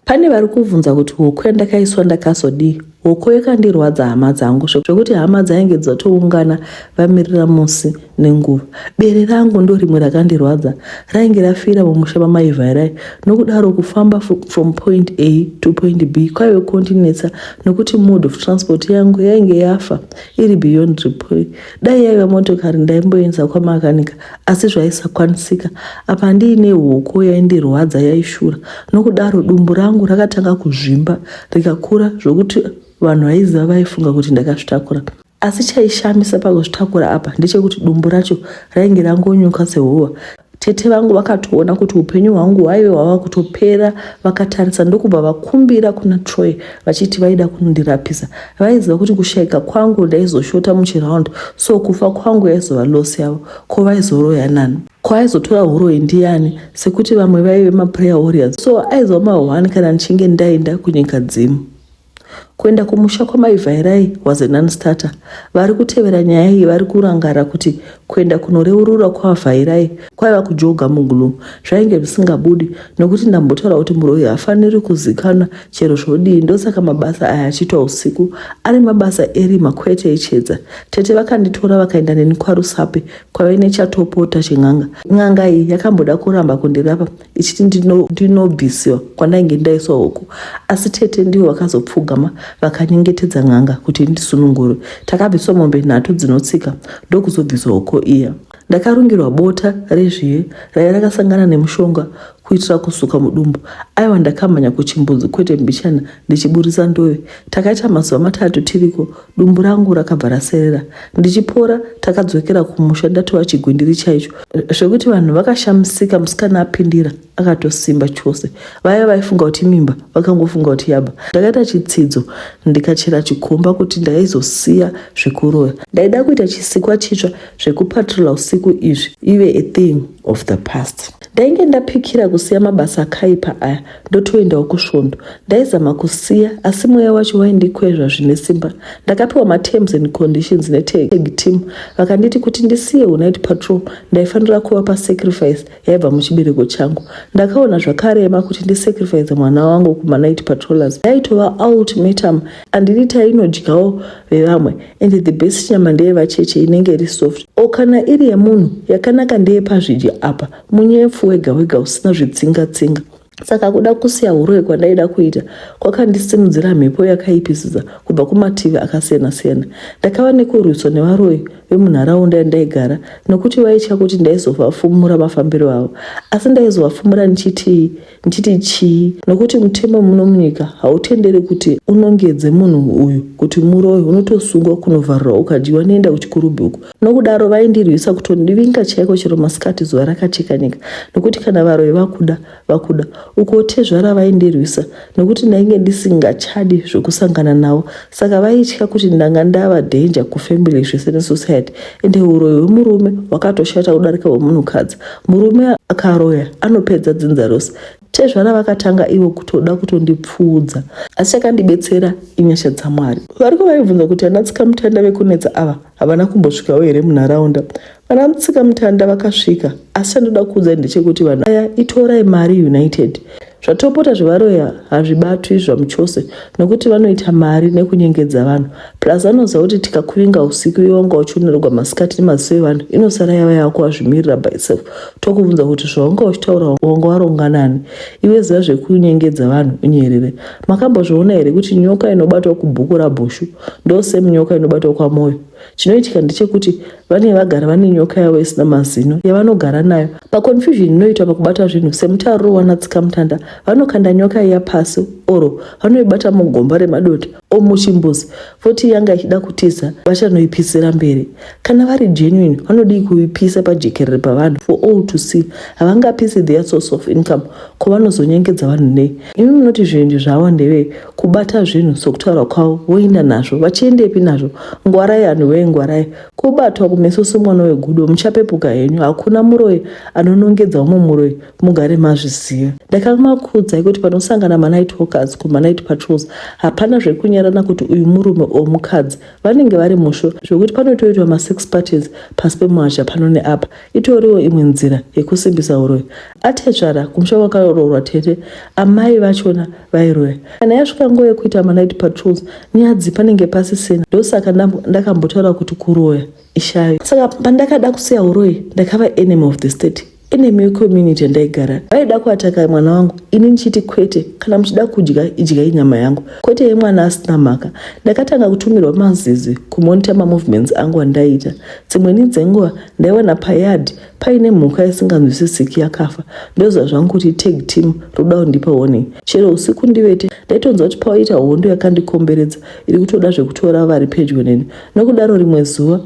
Pane vari kuvhunza kuti hoko yandakaiswa ndakazodii? Hoko yakandirwadza hama dzangu zvekuti hama dzainge dzatoungana vamirira musi nenguva. Bere rangu ndorimwe rakandirwadza rainge rafira mumusha mamai Vharai nokudaro kufamba from point A to point B kwaive kondinetsa nokuti mode of transport yangu yainge yafa iri beyond repair. Dai yaiva motokari ndaimboiendesa kwamakanika asi zvaisakwanisika apa ndiine hoko yaindirwadza yaishura nokudaro dumbu rangu rakatanga kuzvimba rikakura zvokuti vanhu vaiziva vaifunga kuti ndakazvitakura asi chaishamisa pakuzvitakura apa ndechekuti dumbu racho rainge rangonyuka sehuva tete vangu vakatoona kuti upenyu hwangu hwaive hwava kutopera vakatarisa ndokubva vakumbira kuna troy vachiti vaida kundirapisa Vaiziva kuti kushaika kwangu ndaizoshota muchiround so kufa kwangu yaizova loss yavo. Ko vaizoroya nani? Ko aizotora huroyi ndiyani? Sekuti vamwe vaive maprayer warriors so aizova mahwani kana ndichinge ndaenda kunyika dzimu. Kuenda kumusha kwamai Vhairai was a non-starter. Vari kutevera nyaya iyi vari kurangara kuti Kuenda kunoreurura kwaVhairai kwaiva kujoga muglue. Zvainge zvisingabudi nokuti ndambotaura kuti muroyi haafaniri kuzikanwa chero zvodii ndosaka mabasa aya achiitwa usiku ari mabasa erima kwete echedza. Tete vakanditora vakaenda neni kwaRusape kwaive nechatopota chen'anga. N'anga iyi yakamboda kuramba kundirapa ichiti ndinobiswa ndino kwandainge ndaiswa huku asi tete ndivo vakazopfugama vakanyengetedza n'anga kuti ndisunungure takabviswa mombe nhatu dzinotsika ndokuzobviswa huko iya ndakarungirwa bota rezviye raiva rakasangana nemushonga kuitira kusuka mudumbu aiwa ndakamhanya kuchimbudzi kwete mbichana ndichiburitsa ndove takaita mazuva matatu tiriko dumbu rangu rakabva raserera ndichipora takadzokera kumusha ndatova chigwindiri chaicho zvekuti vanhu vakashamisika musikana apindira akatosimba chose vaya vaifunga kuti mimba vakangofunga kuti yaba ndakaita chitsidzo ndikachera chikomba kuti ndaizosiya zvekuroya ndaida kuita chisikwa chitsva zvekupatrola usiku izvi ive a thing of the past ndainge ndapikira kusiya mabasa akaipa aya ndotoendawo kusvondo ndaizama kusiya asi mweya wacho waindikwezva zvine simba ndakapiwa materms and conditions netag team vakanditi kuti ndisiye unight patrol ndaifanira kuva pasacrifice yaibva muchibereko changu ndakaona zvakarema kuti ndisacrifice mwana wangu kumanight patrollers yaitova ultimatum andidi tainodyawo vevamwe and the best nyama ndeyevacheche inenge iri soft o kana iri yemunhu yakanaka ndeyepazvidya apa Munyepfu wega wega usina zvitsinga tsinga. Saka kuda kusiya huroyi kwandaida kuita kwakandisimudzira mhepo yakaipisisa kubva kumativi akasiyana siyana. Ndakava nekurwiswa nevaroyi vemunharaunda yandaigara nokuti vaitya kuti ndaizovafumura mafambiro avo. Asi ndaizovafumura ndichitii? ndichiti chii nokuti mutemo muno munyika hautendere kuti unongedze munhu uyu kuti muroyi unotosungwa kunovharira ukadyiwa nenda kuchikurubhuku nokudaro vaindirwisa kutondivinga chaiko chero masikati zuva rakacheka nyika nokuti kana varoyi vakuda vakuda uko tezvara vaindirwisa nokuti ndainge ndisingachadi zvekusangana navo saka vaitya kuti ndanga ndava danger kufamily zvese nesociety ende uroyi hwemurume hwakatoshata kudarika hwemunhukadzi murume akaroya anopedza dzinza rose tezvara vakatanga ivo kutoda kutondipfuudza asi chakandibetsera inyasha dzamwari variko vaibvunza kuti anatsikamutanda vekunetsa ava havana kumbosvikawo here munharaunda Vana Mutsikamutanda vakasvika asi chandoda kukuudzai ndechekuti vanhu aya itorai mari united. Zvatopota zvevaroya hazvibatwi zvamuchose nokuti vanoita mari nekunyengedza vanhu plus vanoziva kuti tikakuvinga usiku iwe wanga uchionerwa masikati nemaziso evanhu inosara yava yako wazvimirira by self tokuvunza kuti zvawanga uchitaura wanga waronga nani iwe ziva zvekunyengedza vanhu unyerere makambozviona here kuti nyoka inobatwa kubhuku rabhushu ndosemunyoka inobatwa kwamoyo chinoitika ndechekuti vane vagara vane nyoka yavo isina mazino yavanogara nayo paconfusion inoitwa pakubata zvinhu semutariro wanatsika mutanda vanokanda nyoka iya pasi oro vanoibata mugomba remadota o muchimbuzi voti yanga ichida kutiza vachanoipisira mberi kana vari genuine vanodii kuipisa pajekerere pavanhu for all to see havangapisi their source of income ko vanozonyengedza vanhu nei imi munoti zvirendi zvavo ndevei kubata zvinhu sokutaura kwavo voinda nazvo vachiendepi nazvo ngwarai anhu wee ngwarai kubatwa kumeso somwana wegudo muchapepuka henyu hakuna muroyi anonongedza umwe muroyi mugare mazviziva ndakamakuudzai kuti panosangana manight hawkers kumanight patrols hapana zvekunyarana kuti uyu murume o mukadzi vanenge vari musho zvekuti panotoitwa masex parties pasi pemuhazha pano neapa Itoriwo imwe nzira yekusimbisa uroyi. Atezvara kumusha kwakaroorwa tete amai vachona vairoya. Kana yasvika nguva yekuita manight patrols nyadzi panenge pasisina ndosaka ndakambotaura kuti kuroya ishayo. Saka pandakada kusiya uroyi ndakava enemy of the state enemy yecommunity yandaigara vaida kuataka mwana wangu ini ndichiti kwete kana muchida kudya idyai nyama yangu kwete yemwana asina mhaka ndakatanga kutumirwa mazizi kumonita mamovements angu andaiita dzimweni dzenguva ndaiwana payard paine mhuka isinganzwisisiki yakafa ndoziva zvangu kuti tag team roda kundipa warning chero usiku ndivete ndaitonzwa kuti paoita hondo yakandikomberedza iri kutoda zvekutora vari pedyo neni nokudaro rimwe zuva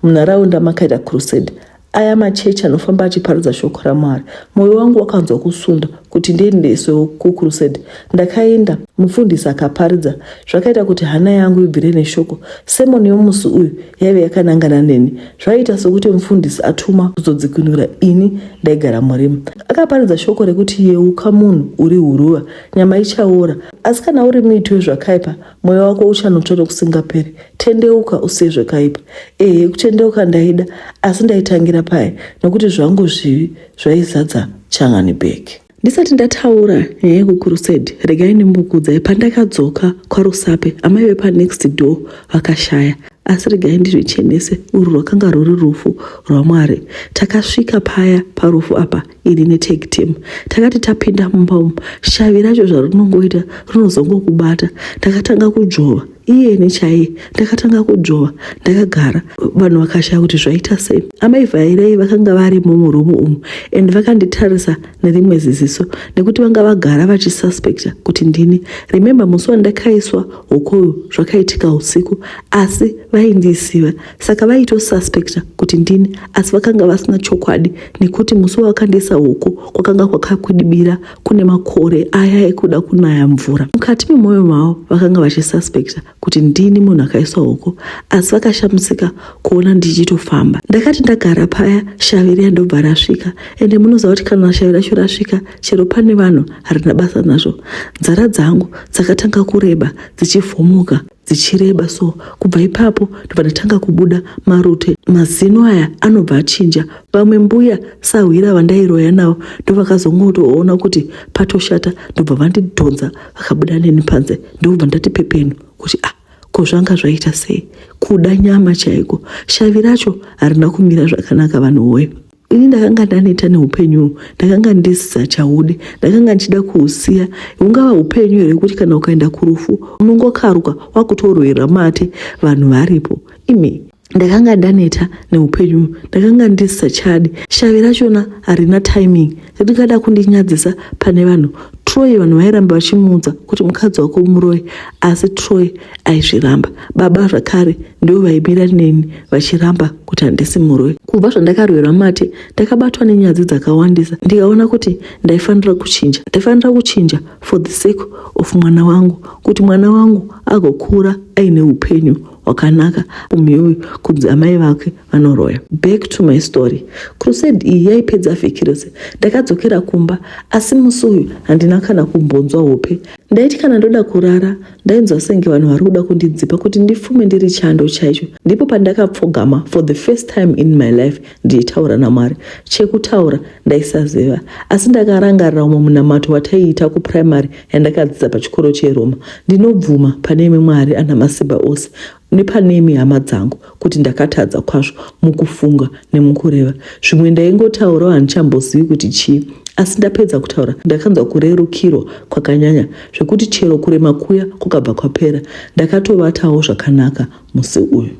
munharaunda makaita crusade aya machechi anofamba achiparidza shoko ramwari mwoyo wangu wakanzwa kusunda kuti ndiendeswewo kucrusade ndakaenda mufundisi akaparidza zvakaita kuti hana yangu ibvire neshoko semoni yomusi uyu yaive yakanangana neni zvaiita sokuti mufundisi atuma kuzodzikinura ini ndaigara murima akaparidza shoko rekuti yeuka munhu uri huruva nyama ichaora asi kana uri muiti wezvakaipa mweya wako uchanotsva nokusingaperi tendeuka usiye zvakaipa ehe kutendeuka ndaida asi ndaitangira paye nokuti zvangu zvivi zvaizadza changani bag ndisati ndataura nyaya yekukurusedi regai ndimbokuudzai pandakadzoka kwarusape amai vepanext door vakashaya asi regai ndizvichenese urwu rwakanga rwuri rufu rwamwari takasvika paya parufu apa ini netake team takati tapinda mumba umu shavi racho zvarinongoita rinozongokubata takatanga kudzvova iyeni chaiye ndakatanga kudzvova ndakagara vanhu vakashaya kuti zvaita sei amai vhairei vakanga varimo murumu umu and vakanditarisa nerimwe ziziso nekuti vanga vagara vachisuspecta kuti ndini remembe musi wandakaiswa hokoyo zvakaitika usiku asi vaindisiva saka vaitosuspecta kuti ndini asi vakanga vasina chokwadi nekuti musi wawakandiisa hoko kwakanga kwakakwidibira kune makore aya ekuda kunaya mvura mukati memwoyo mavo vakanga vachisuspekta kuti ndini munhu akaiswa hoko asi vakashamisika kuona ndichitofamba ndakati ndagara paya shavi riya ndobva rasvika ende munoziva kuti kana shavi racho rasvika chero pane vanhu harina basa nazvo nzara dzangu dzakatanga kureba dzichivhumuka dzichireba so kubva ipapo ndobva ndatanga kubuda marute mazino aya anobva achinja vamwe mbuya sahwira vandairoya navo ndovakazongotoona kuti patoshata ndobva vandidhonza vakabuda neni panze ndobva ndati pepenu kuti ah ko zvanga zvaita sei kuda nyama chaiko shavi racho harina kumira zvakanaka vanhu woye ini ndakanga ndaneta neupenyu uhwu ndakanga ndisisachaude ndakanga ndichida kuusiya hungava upenyu here kuti kana ukaenda kurufu unongokaruka wakutorwera mate vanhu varipo imi ndakanga ndaneta neupenyu ndakanga ndisisachadi shavi rachona harina timing ndingada kundinyadzisa pane vanhu troy vanhu vairamba vachimuudza kuti mukadzi wako muroyi asi troy aizviramba baba zvakare ndivo vaimira neni vachiramba kuti handisi muroyi kubva zvandakarwirwa mate ndakabatwa nenyadzi dzakawandisa ndikaona kuti ndaifanira kuchinja ndaifanira kuchinja for the sake of mwana wangu kuti mwana wangu agokura aine upenyu hwakanaka umhiwi kunzi amai vake anoroya back to my story crusade iyi yaipedza vhiki rese ndakadzokera kumba asi musi uyu handina kana kumbonzwa hope ndaiti kana ndoda kurara ndainzwa senge vanhu vari kuda kundidzipa kuti ndifume ndiri chando chaicho ndipo pandakapfogama for the first time in my life ndichitaura namwari chekutaura ndaisaziva asi ndakarangarira umwe munamato wataiita kuprimary yandakadzidza pachikoro cheroma ndinobvuma pane imwe mwari ana masimba ose nepanemi hama dzangu kuti ndakatadza kwazvo mukufunga nemukureva zvimwe ndaingotaurawo handichambozivi kuti chii asi ndapedza kutaura ndakanzwa kurerukirwa kwakanyanya zvekuti chero kurema kuya kukabva kwapera ndakatovatawo zvakanaka musi uyu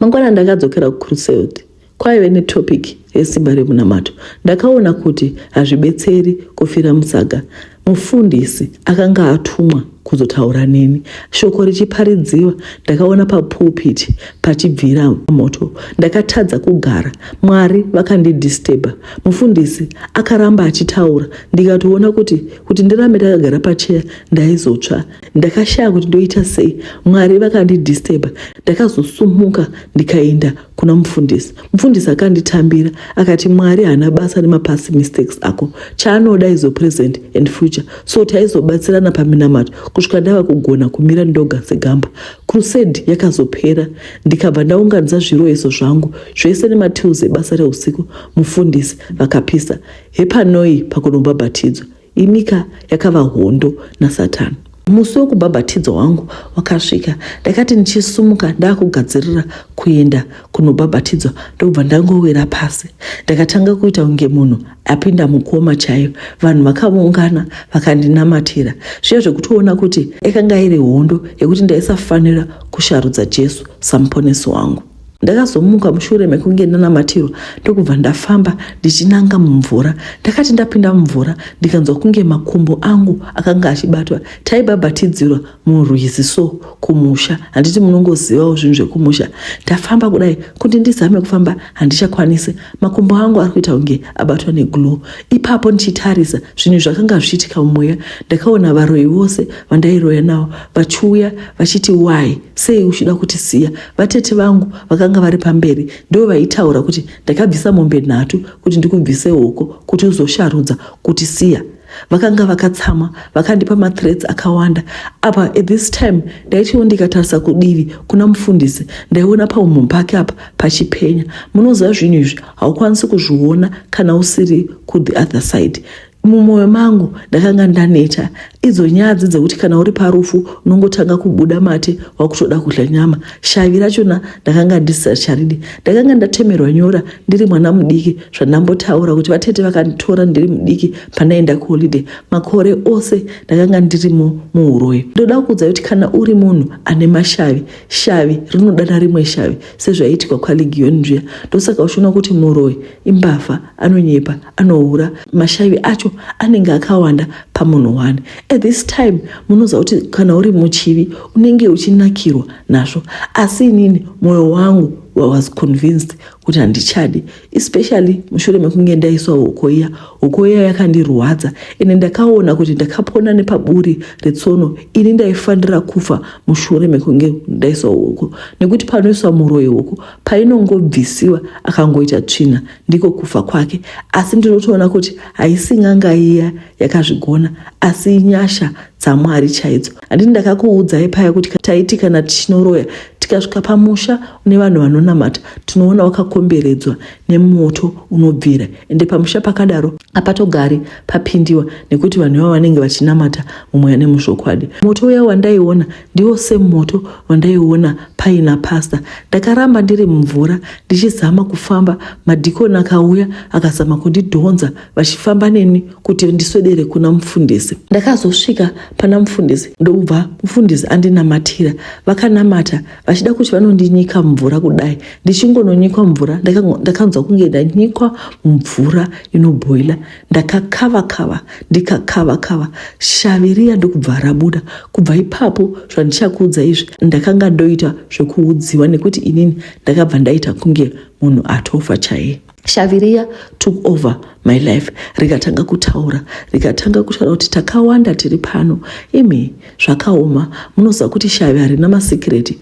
mangwana ndakadzokera kucruseld Kwaive netopic resimba remunamato. Ndakaona kuti hazvibetseri kufira musaga. Mufundisi akanga atumwa kuzotaura neni. Shoko richiparidziwa, ndakaona papulpit pachibvira moto. Ndakatadza kugara. Mwari vakandidisturba. Mufundisi akaramba achitaura ndikatoona kuti kuti ndirambe ndakagara pacheya ndaizotsva. Ndakashaya kuti ndoita sei. Mwari vakandidisturba. Ndakazosumuka ndikaenda kuna mufundisi mufundisi akanditambira akati mwari haana basa nemapast mistakes ako chaanoda izo present and future so taizobatsirana paminamato kusvika ndava kugona kumira ndoga segamba crusade yakazopera ndikabva ndaunganidza zviroyeso zvangu zvese nematiles ebasa reusiku mufundisi vakapisa hepanoi pakunobhabhatidzwa Imika yakava hondo nasatani. Musi wekubhabhatidzwa wangu wakasvika. Ndakati ndichisumuka ndakugadzirira kuenda kunobhabhatidzwa ndokubva ndangowira pasi. Ndakatanga kuita kunge munhu apinda mukoma chaiyo. Vanhu vakavungana vakandinamatira zviya zvekutoona kuti yakanga iri hondo yekuti ndaisafanira kusharudza Jesu samuponesi wangu. ndakazomuka mushure mekunge ndanamatirwa ndokubva ndafamba ndichinanga mumvura ndakati ndapinda mumvura ndikanzwa kunge makumbo angu akanga achibatwa taibhabhatidzirwa murwizi so kumusha handiti munongozivawo zvinhu zvekumusha ndafamba kudai kuti ndizame kufamba handichakwanisi makumbo angu ari kuita kunge abatwa neglow ipapo ndichitarisa zvinhu zvakanga zvichiitika mumweya ndakaona varoyi vose vandairoya navo vachiuya vachiti why sei uchida kutisiya Vatete vangu vakanga vari pamberi ndivo vaitaura kuti ndakabvisa mombe nhatu kuti ndikubvise hoko kuti uzosharudza kuti siya vakanga vakatsama vakandipa mathreats akawanda apa at this time ndaitiwo ndikatarisa kudivi kuna mufundisi ndaiona paumhu pake apa pachipenya munoziva zvinhu izvi haukwanisi kuzviona kana usiri kuthe other side Mumwoyo mangu ndakanga ndaneta idzo nyadzi dzekuti kana uri parufu unongotanga kubuda mate wakutoda kudya nyama. Shavi rachona ndakanga ndisisacharidi. Ndakanga ndatemerwa nyora ndiri mwana mudiki zvandambotaura kuti vatete vakanditora ndiri mudiki pandaenda kuholiday. Makore ose ndakanga ndirimo muuroyi. Ndoda kuudza kuti kana uri munhu ane mashavi, shavi rinodana rimwe shavi. sezvaiitika kwaLegion zviya ndosaka uchiona kuti muroyi imbavha anonyepa anohura mashavi acho anenge akawanda pamunhu one at this time munoziva kuti kana uri muchivi unenge uchinakirwa nazvo asi inini mwoyo wangu was convinced kuti handichadi especially mushure mekunge ndaiswa hoko iya hoko iya yakandirwadza ende ndakaona kuti ndakapona nepaburi retsono ini ndaifanira kufa mushure mekunge ndaiswa hoko nekuti panoiswa muroyi hoko painongobvisiwa akangoita tsvina ndiko kufa kwake asi ndinotoona kuti haisi n'anga iya yakazvigona asi inyasha dzamwari chaidzo Handiti ndakakuudzai paya kuti taiti kana tichinoroya tikasvika pamusha une vanhu vanonamata tinoona wakakomberedzwa nemoto unobvira ende pamusha pakadaro apatogari papindiwa nekuti vanhu ivavo vanenge vachinamata mumweya nemuzvokwadi moto uya wandaiona ndiwo semoto wandaiona paina pasta ndakaramba ndiri mumvura ndichizama kufamba madhikoni akauya akazama kundidhonza vachifamba neni kuti ndiswedere kuna mufundisi ndakazosvika pana mufundisi ndokubva mufundisi andinamatira vakanamata vachida kuti vanondinyika mvura kudai ndichingononyikwa mvura ndakanzwa kunge ndanyikwa mvura inobhoila ndakakava kava ndikakava kava shavi riya ndokubva rabuda kubva ipapo zvandichakuudza izvi ndakanga ndoita zvekuudziwa nekuti inini ndakabva ndaita kunge munhu atofa chaiye shavi riya took over my life rikatanga kutaura rikatanga kutaura kuti takawanda tiri pano imi zvakaoma munoziva kuti shavi harina masikireti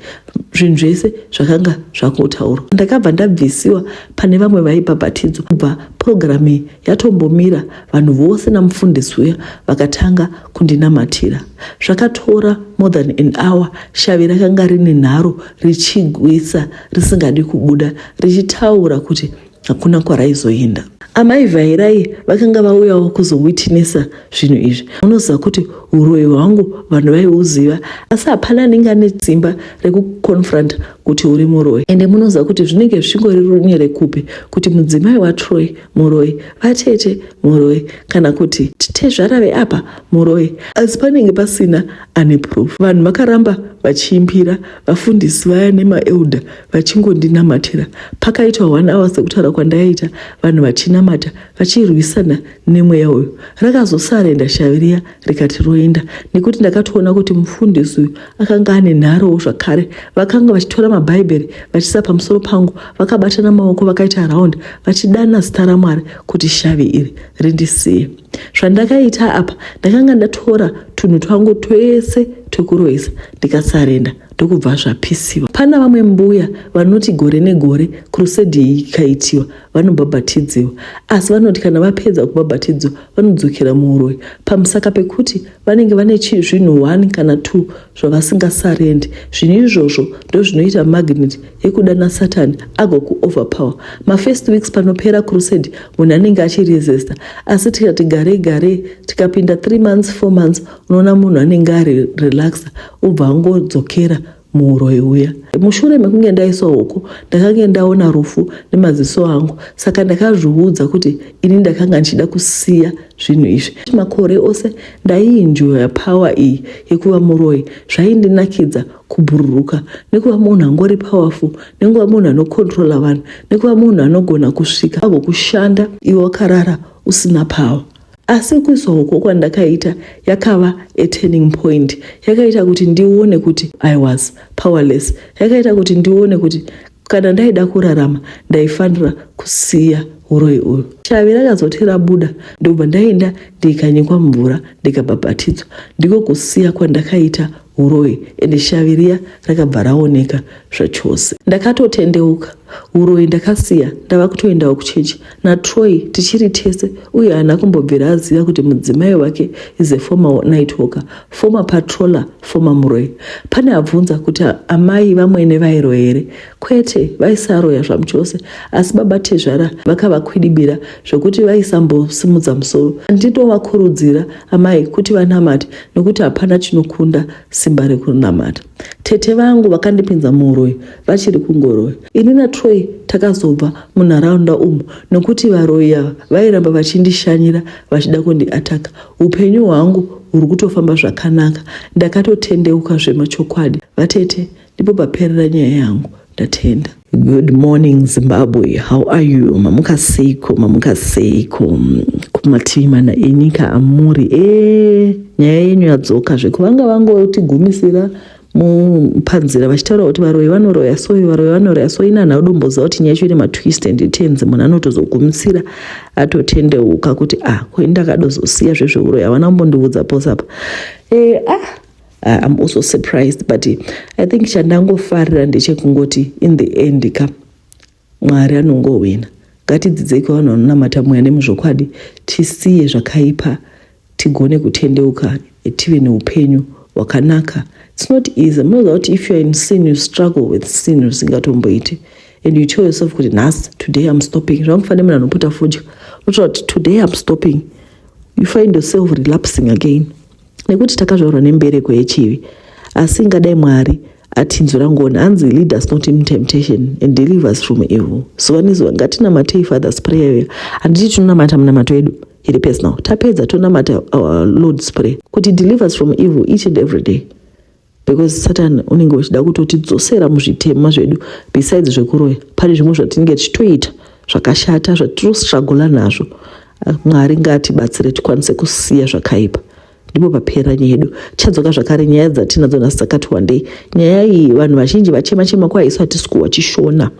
zvinhu zvese zvakanga zvakotaurwa ndakabva ndabvisiwa pane vamwe vaibhabhatidzwa kubva purogiramu iyi yatombomira vanhu vose namufundisi uya vakatanga kundinamatira zvakatora more than an hour shavi rakanga rine nharo richigwisa risingadi kubuda richitaura kuti hakuna kwaraizoenda. Amai Vairai vakanga vauyawo kuzowitinesa zvinhu izvi. Unoziva kuti uroyi hwangu vanhu vaiuziva asi hapana anenge ane simba rekuconfronta kuti uri muroyi. Ende munoziva kuti zvinenge zvichingori runye rekupi kuti mudzimai waTroy muroyi, vatete muroyi kana kuti tezvara veapa muroyi. Asi panenge pasina ane proof vanhu vakaramba vachiimbira vafundisi vaya nemaelder vachingondinamatira pakaitwa one hour sekutaura kwandaita vanhu vachinamata vachirwisana nemweya uyu rakazosarenda shavi riya rikati roenda nekuti ndakatoona kuti mufundisi uyu akanga ane nharowo zvakare vakanga vachitora mabhaibheri vachisa pamusoro pangu vakabatana maoko vakaita round vachidana zita ramwari kuti shavi iri rindisiye zvandakaita apa ndakanga ndatora tunhu twangu twese twekuroisa ndikasarenda ndokubva zvapisiwa pana vamwe mbuya vanoti gore negore kurusedhi iyi ikaitiwa vanobhabhatidziwa asi vanoti kana vapedza kubhabhatidzwa vanodzokera muuroi pamusaka pekuti vanenge vane chii zvinhu one kana two zvavasingasarendi zvinhu izvozvo ndozvinoita magnet yekudana satani agokuoverpower mafirst weeks panopera crusade munhu anenge achiresesta asi tikati garei garei tikapinda three months four months unoona munhu anenge ari relaxa ubva angodzokera muuroi uya. Mushure mekunge ndaiswa uko, ndakange ndaona rufu nemaziso angu, saka ndakazviudza kuti ini ndakanga ndichida kusiya zvinhu izvi. Makore ose ndaiinjoya power iyi yekuva muroi, zvaindinakidza kubhururuka nekuva munhu angori powerful, nekuva munhu anokontrola vanhu, nekuva munhu anogona kusvika agokushanda iwe wakarara usina power. Asi kuiswa uko kwandakaita yakava a turning point. Yakaita kuti ndione kuti I was powerless. Yakaita kuti ndione kuti kana ndaida kurarama ndaifanira kusiya uroyi uyu. Shavi rakazote rabuda ndobva ndaenda ndikanyikwa mvura ndikabhabhatidzwa. Ndiko kusiya kwandakaita uroyi ende shavi riya rakabva raoneka zvachose ndakatotendeuka uroyi ndakasiya ndava kutoendawo kuchechi natroy tichiri tese uye haana kumbobvira aziva kuti mudzimai wake is a former night walker former patroller former muroyi pane abvunza kuti amai vamwene vairo here Kwete, vaisaroya zvamuchose, asi baba tezvara vakavakwidibira zvokuti vaisambosimudza musoro. Ndinovakurudzira amai kuti vanamate nokuti hapana chinokunda simba rekunamata. Tete vangu vakandipinza muuroyi vachiri kungoroya. Ini naTroy takazobva munharaunda umu nokuti varoyi ava vairamba vachindishanyira vachida kundiataka. Upenyu hwangu huri kutofamba zvakanaka. Ndakatotendeuka zvemachokwadi. Vatete Ndipo paperera nyaya yangu. Ndatenda. Good morning Zimbabwe, how are you? Mamuka seiko, mamuka seiko kumativi mana enyika amuri e eh, nyaya yenyu yadzoka zvekuvanga vangotigumisira mupanzira vachitaura kuti varoyi vanoroya so varoyi vanoroya so inani audomboziva kuti nyaya yacho ine matwist and tens munhu anotozogumisira atotendeuka kuti ah ko ini ndakadozosiya zvezveuroyi havana kumbondiudza posapa e eh, ah Uh, I'm also surprised but I think chandangofarira ndechekungoti in the end ka Mwari anongowina. Ngatidzidzei kuvanhu vanonamata mweya nemuzvokwadi, tisiye zvakaipa tigone kutendeuka tive neupenyu hwakanaka. It's not easy. Munoziva kuti if you're in sin you struggle with sin zvisingatomboiti and you tell yourself kuti nhasi today I'm stopping. Zvamufanira munhu anopota fodya. Unotaura kuti today I'm stopping. You find yourself relapsing again. nekuti takazvarwa nembereko yechivi asi ingadai mwari atinzwira ngoni hanzi lead us not in temptation and deliver us from evil zuva nezuva ngatinamatei fathers prayer iyo handiti tinonamata munamato yedu iri personal tapedza tonamata our lord's prayer kuti deliver us from evil each and every day because satan unenge uchida kutotidzosera muzvitema zvedu besides zvekuroya pane zvimwe zvatinenge tichitoita zvakashata zvatirosragola nazvo mwari ngaatibatsire tikwanise kusiya zvakaipa ndipo papera nyaya yedu tichadzoka zvakare nyaya dzatinadzo nhasi dzakati wandei nyaya iyi vanhu vazhinji vachema chema kwaisu hatisi kuwa chishona